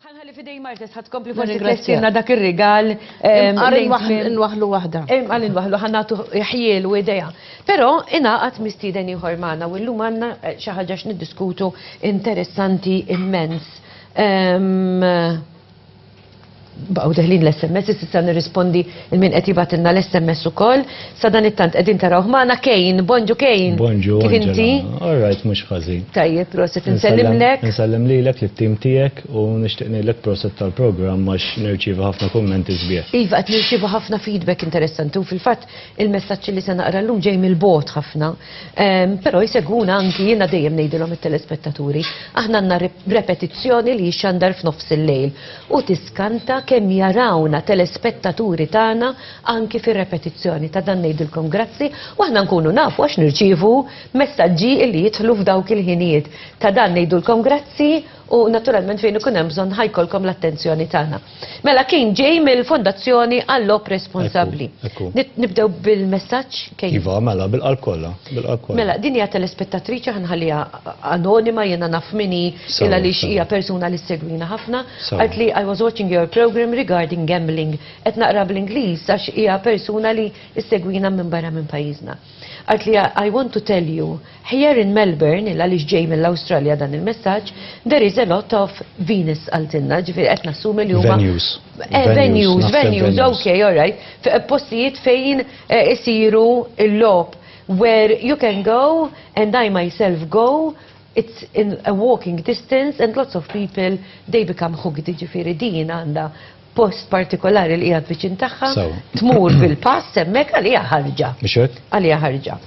Ħalli fidej Martes ħad kompli forsi tressilna dak ir-rigal. Nwaħlu waħda. Għal nwaħlu ħannatu ħjiel u ideja. Però ingħaqad mistieden ieħor magħna u llum għandna eh, xi ħaġa x'niddiskutu interessanti immens. Ehm, baqgħu deħlin l-SMS, issa nirrispondi il-min qed jibatilna l-SMS ukoll. Sa dan it-tant qegħdin tarawh magħna Kejn, bonġu Kejn. Bonġu. Kif inti? Alright, mhux ħażin. Tajjeb, proset insellimlek. Insellem lilek lit-tim tiegħek u nixtieq ngħidlek proset tal-programm għax nirċievi ħafna kummenti sbieħ. Iva, qed nirċievu ħafna feedback interessanti u fil-fatt il-messaġġi li se naqra llum ġej mill-bogħod ħafna. Um, pero jiseguna anki jina dejjem nejdilom il-telespettaturi. Aħna għanna repetizzjoni li jixandar f'nofs il-lejl u tiskanta kemm jarawna telespettaturi tagħna anki fir repetizzjoni ta' dan nejdilkom grazzi u aħna nkunu nafu għax nirċivu messaġġi li jidħlu f'dawk il-ħinijiet. Ta' dan nejdilkom grazzi u naturalment fejn ikun hemm bżonn ħajkolkom l-attenzjoni tagħna. Mela kien ġej mill-Fondazzjoni għall-Lob Responsabbli. Nibdew bil-messaġġ kejn. Iva, mela bil-qalb kollha, bil-qalb kollha. Mela din hija telespettatriċi ħanħalliha anonima jiena naf minni illa li hija persuna li segwina ħafna. Qalt li I was watching your program regarding gambling. Qed naqra bl-Ingliż għax hija persuna li ssegwina minn barra minn pajjiżna. Għidt li I want to tell you, here in Melbourne, il-għaliex ġej mill-Awstralja dan il-messaġġ, there is a lot of Venus għaltinna, ġifieri qed nassumi li huma. Venues. Eh, venues, venues, ok, all right. Postijiet fejn eh, isiru l-lob where you can go and I myself go it's in a walking distance and lots of people they become hooked ġifiri din għanda post partikolari li qiegħed viċin tagħha, tmur bil-pass hemmhekk għalija ħarġa. Mhux hekk? Għalija ħarġa.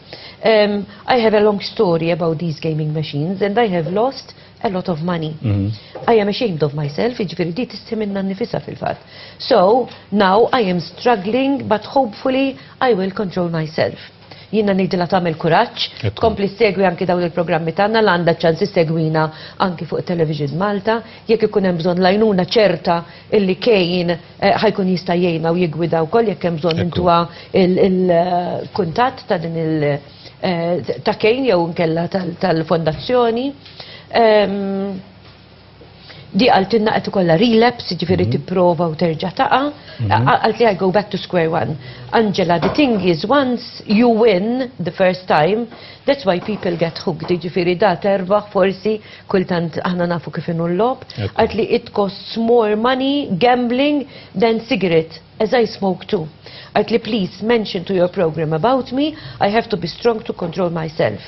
Um, I have a long story about these gaming machines and I have lost a lot of money. Mm -hmm. I am ashamed of myself, iġveri di tistiminna nifisa fil-fat. So, now I am struggling, but hopefully I will control myself. Jiena ngħidilha tagħmel kuraġġ, tkompli ssegwi anki dawn il-programmi tagħna li għandha ċ-ċans issegwina anki fuq it-Television Malta. Jekk ikun hemm bżonn l-għajnuna ċerta illi Kane ħajkun jista' jgħinha u jiggwidha wkoll jekk hemm bżonn intuha l-kuntatt ta' din il ta' Kane jew inkella tal-fondazzjoni. Di għaltinna qed ikollha relapse, jiġifieri mhm. tipprova u terġa' taqa'. Mhm. Għalt li I go back to square one. Angela, the thing is once you win the first time, that's why people get hooked, jiġifieri da terbaħ forsi kultant aħna nafu kif inhu l-lob. Għalt li it costs more money gambling than cigarette. As I smoke too. Għidtli please mention to your programme about me, I have to be strong to control myself.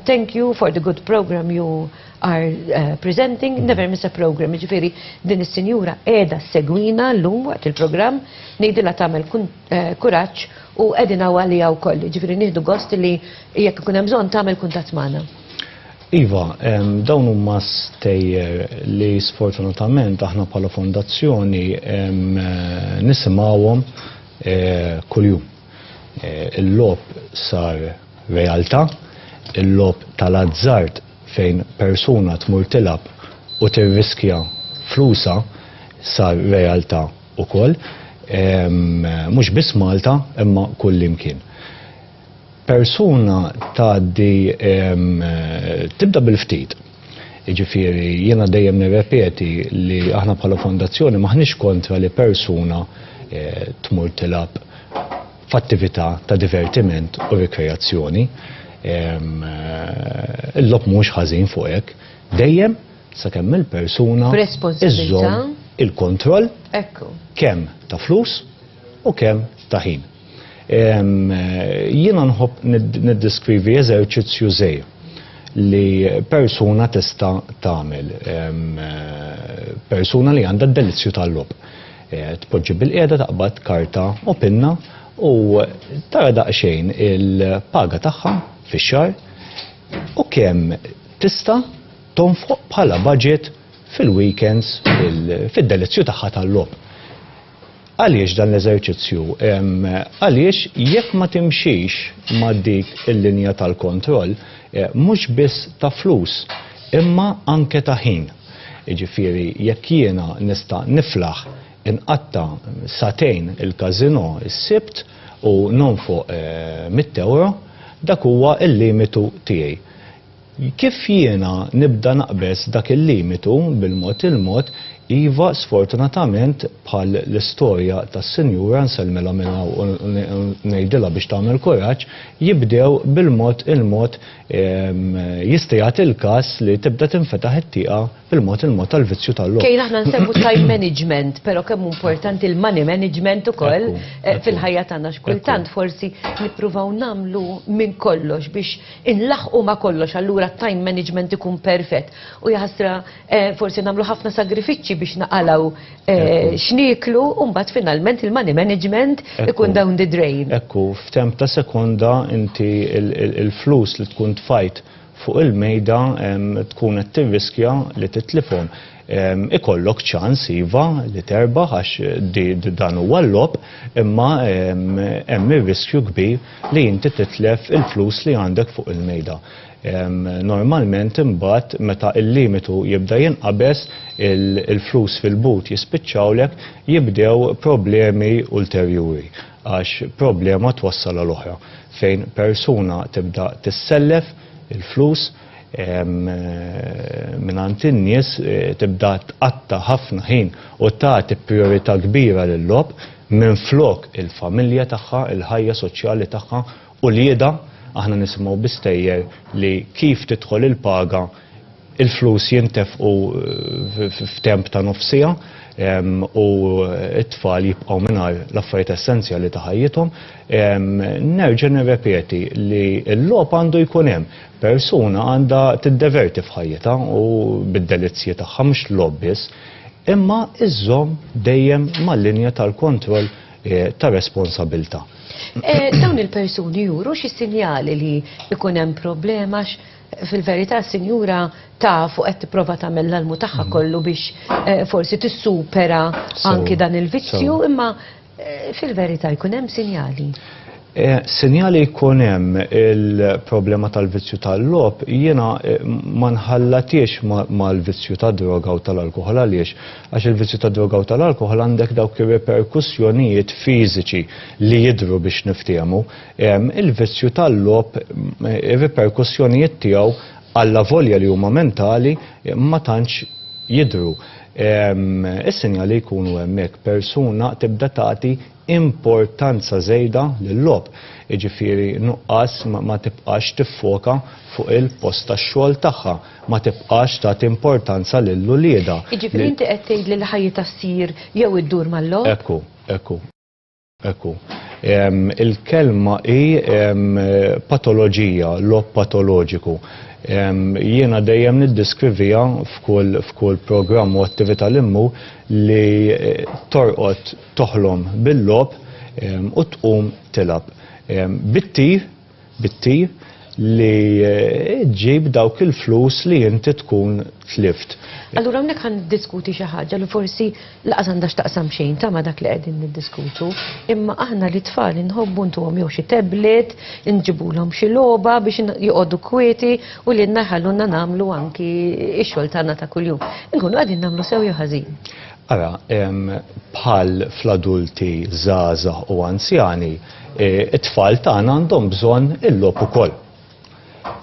Thank you for the good programme you are presenting, never miss a programme. Jiġifieri din is-sinjura qiegħda ssegwina llum waqt il-programm, ngħidilha tagħmel kuraġġ u qegħdin hawn għaliha wkoll. Jiġifieri nieħdu gost li jekk ikun hemm bżonn tagħmel kuntatt magħna. Iva, dawn huma stejjer li sfortunatament aħna bħala fondazzjoni nisimgħuhom eh, kuljum. Eh, il-lob sar realtà, il-lob tal-azzard fejn persuna tmur tilab u tirriskja flusa sar realtà ukoll, mhux biss Malta imma kullimkien. persuna tgħaddi tibda bil-ftit. Jiġifieri jiena dejjem nirrepeti li aħna bħala fondazzjoni m'aħniex kontra li persuna eh, tmur tilgħab f'attività ta' divertiment u rikreazzjoni. Eh, il-lob mhux ħażin fuq hekk. Dejjem sakemm il-persuna iżżomm il-kontroll kemm ta' flus u kemm ta' ħin. Jiena nħobb niddeskrivi eżerċizzju żej li persuna tista' tagħmel. Persuna li għandha d-delizzju tal-lob. Eh, tpoġġi bil-qiegħda taqbad karta u pinna u tara daqsxejn il-paga tagħha fix-xar u kemm tista' tonfoq bħala budget fil-weekends fid-delizzju tagħha tal-lob. Għaliex dan l-eżerċizzju? Għaliex jekk ma timxix ma' dik il-linja tal-kontroll, mhux biss ta' flus, imma anke ta' ħin. Jiġifieri jekk jiena nista' niflaħ inqatta' sagħtejn il-każinò s-Sibt u nonfoq mitt ewro, dak huwa l-limitu tiegħi. Kif jiena nibda naqbeż dak il-limitu bil-mod il-mod, iva sfortunatament bħal l-istorja tas-sinjura, nsellmilha minn hawn u ngħidilha biex tagħmel kuraġġ, jibdew bil-mod il-mod jista' jagħti l-każ li tibda tinfetaħ it-tieqa bil-mod il-mod tal-vizzju tal-logħob. Kein aħna nsegwu time management, però kemm hu importanti l-money management ukoll fil-ħajja tagħna x'kultant forsi nippruvaw nagħmlu minn kollox biex inlaħħqu ma' kollox allura t-time management ikun perfett. U jaħasra forsi nagħmlu ħafna sagrifiċċji biex naqalgħu x'nieklu u mbagħad finalment il-money management ikun down the drain. Ekku, f'temp ta' sekonda inti l-flus li tkun tfajt fuq il-mejda tkun qed tirriskja li titlifhom. ikollok ċans iva li terbaħ għax dan huwa l-lob imma hemm ir-riskju kbir li inti titlef il-flus li għandek fuq il-mejda. Normalment imbagħad meta l-limitu jibda jinqabeż il-flus fil-but jispiċċawlek jibdew problemi ulterjuri għax problema twassal għal oħra fejn persuna tibda tissellef il-flus mingħand in-nies eh, tibda tqatta' ħafna ħin u tagħti priorità kbira lil-logħob minflok il-familja tagħha, il-ħajja soċjali tagħha u lieda aħna nisimgħu bistejjer li kif tidħol il-paga il-flus jintefqu eh, f'temp ta' nofsija u t-tfal jibqgħu mingħajr l-affarijiet essenzjali ta' ħajjithom. Nerġa' nirrepeti li l-logħob għandu jkun hemm Persuna għandha tiddeverti f'ħajjitha u bid-delizzji tagħha mhux logħob biss, imma iżżomm dejjem mal-linja tal-kontroll ta' responsabilità. Dawn il-persuni juru xi sinjali li jkun hemm problema għax fil-verità sinjura taf u qed tipprova tagħmel l-almu tagħha kollu biex forsi tissupera anki dan il-vizzju imma Fil-verità jkun hemm sinjali. Eh, sinjali jkun hemm il-problema tal-vizzju tal-lob, jiena eh, ma nħallatiex mal-vizzju ta' droga u tal-alkohol għaliex, għax il-vizzju ta' droga u tal-alkohol għandek dawk ir-reperkussjonijiet fiżiċi li jidru biex niftehmu. Il-vizzju tal-lob, eh, ir-reperkussjonijiet tiegħu għalla volja li huma mentali ma tantx jidru. Is-sinjali jkunu hemmhekk persuna tibda tagħti importanza żejda lil-logħob, jiġifieri nuqqas ma tibqax tiffoka fuq il-post tax-xogħol tagħha, ma tibqax tagħti importanza lil uliedha. Jiġifieri inti qed tgħidli li ħajjitha ssir jew iddur mal-logħob? Hekk hu, hekk hu. Hekk hu. Il-kelma hi patoloġija, logħob patoloġiku. Jiena dejjem niddeskriviha f'kull programm u attività li mmur li torqod toħlom bil-logħob u tqum tilgħab. Bit-tir bit-tir li ġġib dawk il-flus li inti tkun tlift. Allura hawnhekk ħa niddiskuti xi ħaġa li forsi lanqas għandha x'taqsam xejn ta' ma' dak li qegħdin niddiskutu, imma aħna lit-tfal inħobbu ntuhom jew xi tablet, inġibulhom xi logħba biex joqogħdu kwieti u lilna jħallulna nagħmlu anki x-xogħol tagħna ta' kuljum. Inkunu qegħdin nagħmlu sew jew ħażin? Ara, bħal fl-adulti żgħażagħ u anzjani, E, it-tfal tagħna għandhom bżonn il-logħob ukoll.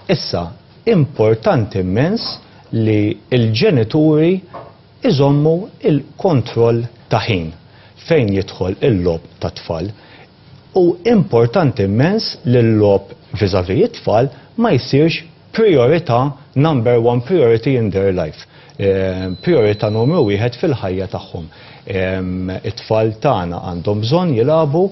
Issa, importanti immens li l-ġenituri iżommu il-kontroll ta' ħin fejn jidħol il-logħob ta' tfal. U importanti immens li l-logħob viżavi it-tfal ma jsirx Prijorità, number one priority in their life. Prijorità numru wieħed fil-ħajja tagħhom. It-tfal tagħna għandhom bżonn jilagħbu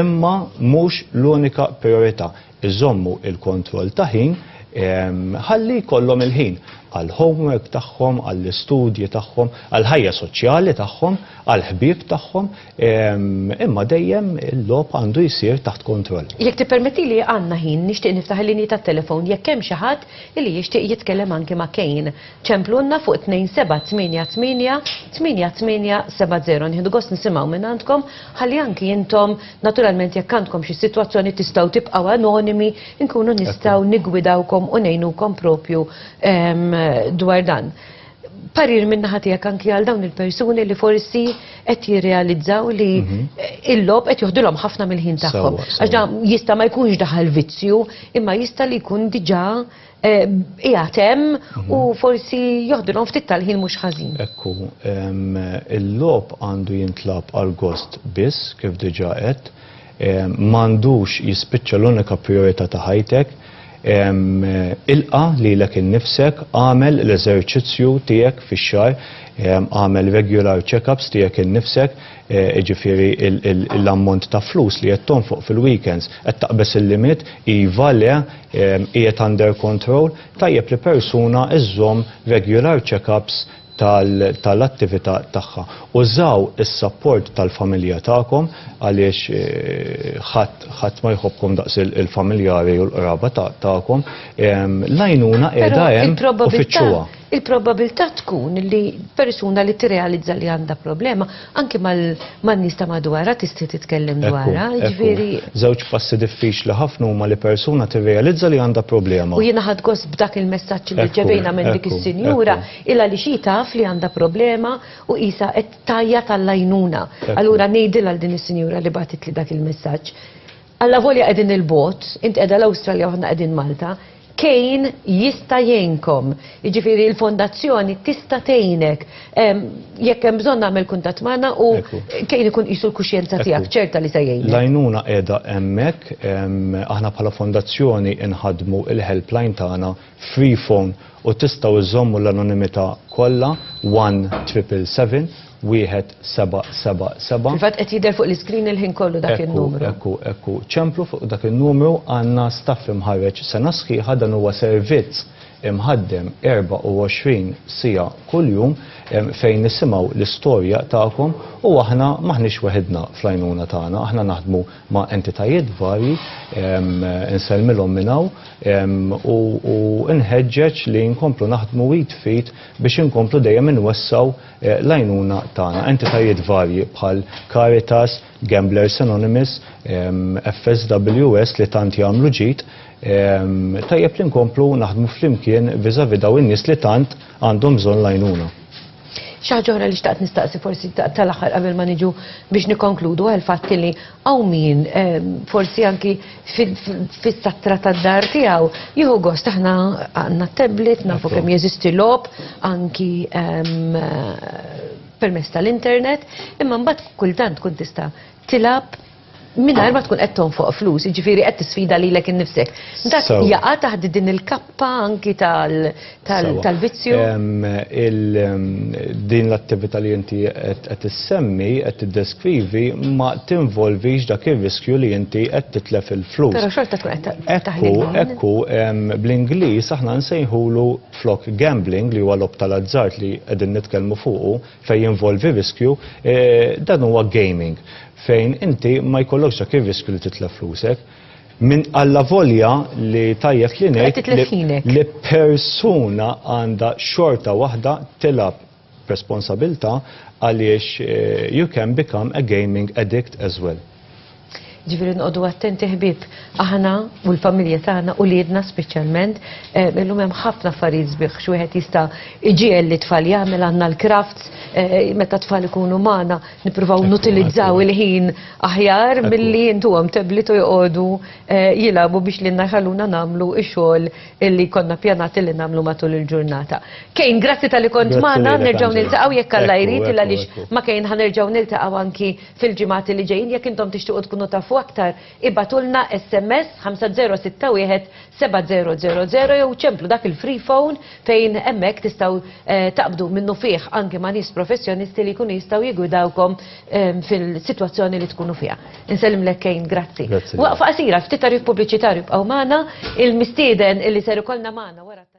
imma mhux l-unika prijorità. Iżommu l-kontroll ta' ħin ħalli jkollhom il-ħin għall-homework tagħhom, għall-istudji tagħhom, għall-ħajja soċjali tagħhom, għall-ħbieb tagħhom. Imma dejjem il-lob għandu jsir taħt kontroll. Jekk tippermetti li għandna ħin nixtieq niftaħ il-linji tat-telefon jekk hemm xi ħadd li jixtieq jitkellem anki ma' Kane. Ċemplulna fuq 27888870 nieħdu gost nisimgħu minn għandkom ħalli anki intom naturalment jekk għandkom xi sitwazzjoni tistgħu tibqgħu anonimi nkunu nistgħu niggwidawkom u ngħinukom propju dwar dan. parir minna ħatijak anki għal dawn il-persuni li forsi qed jirrealizzaw li mhm. il-lob qed joħdilhom ħafna mill-ħin tagħhom. Għax jista' ma jkunx daħal vizzju, imma jista' li jkun diġà eh, qiegħed hemm mhm. u forsi joħdilhom ftit tal-ħin mhux ħażin. Ekku, il-lob għandu jintlab għal gost biss kif diġà qed M'għandux jispiċċa l-unika prijorità ta' ħajtek. Ilqa' lilek innifsek, agħmel l-eżerċizzju tiegħek fix-xahar, agħmel regular check-ups tiegħek innifsek, jiġifieri l-ammont ta' flus li qed tonfoq fil-weekends, qed taqbeż il-limit, iva, le, qiegħed under control, tajjeb li persuna żżomm regular check-ups tal-attività tagħha. Użaw is-sapport tal-familja tagħkom għaliex ħadd ma jħobbkom daqs il-familjari u l-qraba tagħkom. L-għajnuna qiegħda hemm u fittxuha. Il-probabilità tkun li persuna li tirrealizza li għandha problema Anki mal-nies ta' madwarha tista' titkellem dwarha, ġifieri. Żewġ passi diffiċli ħafna huma li persuna tirrealizza li għandha problema. U jiena ħadt gost b'dak il-messaġġ li rċevejna minn dik is-sinjura, ilha għaliex hi taf li għandha problema u qisha qed tgħajjat għall-għajnuna. Allura ngħidilha għal din is-sinjura li bagħtitli dak il-messaġġ. Allavolja qegħdin 'il bogħod, int qiegħda l-Awstralja u aħna qegħdin Malta, Cain jista' jgħinkom. Jiġifieri l-fondazzjoni tista' tgħinek. Jekk hemm bżonn agħmel kuntatt magħna u Cain ikun qisu l-kuxjenza tiegħek, ċerta li se jgħinek. L-għajnuna qiegħda hemmhekk, aħna bħala fondazzjoni nħaddmu l-helpline tagħna free phone u tistgħu iżżommu l-anonimità kollha, 1-777-1777. Fil-fatt qed jidher fuq l-iscreen il-ħin kollu dak in-numru. Ekku, ekku, ekku. Ċemplu fuq dak in-numru, għandna staff imħarreġ sena sħiħa, dan huwa servizz imħaddem 24 siegħa kuljum fejn nisimgħu l-istorja tagħkom u aħna m'aħniex weħidna fl-għajnuna tagħna, aħna naħdmu ma' entitajiet varji, insellmilhom minn hawn u nħeġġeġ li nkomplu naħdmu id f'id biex inkomplu dejjem inwessgħu l-għajnuna tagħna. Entitajiet varji bħal Caritas, Gamblers Anonymous, FSWS li tant jagħmlu ġid, tajjeb li nkomplu naħdmu flimkien vis-à-vis dawn in-nies li tant għandhom bżonn l-għajnuna. Xi ħaġa oħra li xtaqt nistaqsi forsi tal-aħħar qabel ma niġu biex nikkonkludu għal fatt li hawn min ehm, forsi anki fis-satra tad-dar tiegħu jieħu gost aħna għandna tablet nafu kemm jeżisti lob anki ehm, permess tal-internet imma mbagħad kultant tkun tista' tilab mingħajr ma tkun qed tonfoq flus, jiġifieri qed tisfida lilek innifsek. Dak jaqa' taħt din il-kappa anki tal-vizzju? Din l-attività li inti qed issemmi, qed tiddeskrivi, ma tinvolvix dak ir-riskju li inti qed titlef il-flus. Però xorta tkun qed taħdem. Ekku, bl-Ingliż aħna nsejħulu flok gambling li huwa logħob tal-azzard li qegħdin nitkellmu fuqu, fejn jinvolvi riskju, dan huwa gaming fejn inti ma jkollokx dak ir-riskju li titlef flusek. Minn allavolja li tajjeb li ngħid li persuna għandha xorta waħda tilgħab b'responsabilità għaliex you can become a gaming addict as well. Ġifieri nqogħdu attenti ħbieb, aħna u l-familja tagħna u liedna speċjalment, eh, illum hemm ħafna affarijiet sbieħ x'wieħed jista' iġiegħel li tfal jagħmel għandna l-crafts, eh, meta tfal ikunu magħna nippruvaw nutilizzaw il-ħin aħjar milli intuhom teblit u joqogħdu eh, jilagħbu biex lilna jħalluna nagħmlu x-xogħol li konna pjanati li nagħmlu matul il-ġurnata. Kejn, grazzi tal-li kont magħna, nerġgħu niltaqgħu jekk Alla jrid il għaliex ma kejn ħanerġgħu niltaqgħu anki fil-ġimgħat li ġejjin jekk intom tixtiequ tkunu tafu aktar ibgħatulna sms 5061 7000 jew ċemplu dak il-free phone fejn hemmhekk tistgħu taqbdu minnufih anke ma' nies professjonisti li jkunu jistgħu jiggwidawkom fil-sitwazzjoni li tkunu fiha. Insellimlek Kane, grazzi. Waqfa qasira, ftit tagħrif pubbliċitarju ibqgħu magħna, il-mistieden li ser ikollna magħna wara t-tagħrif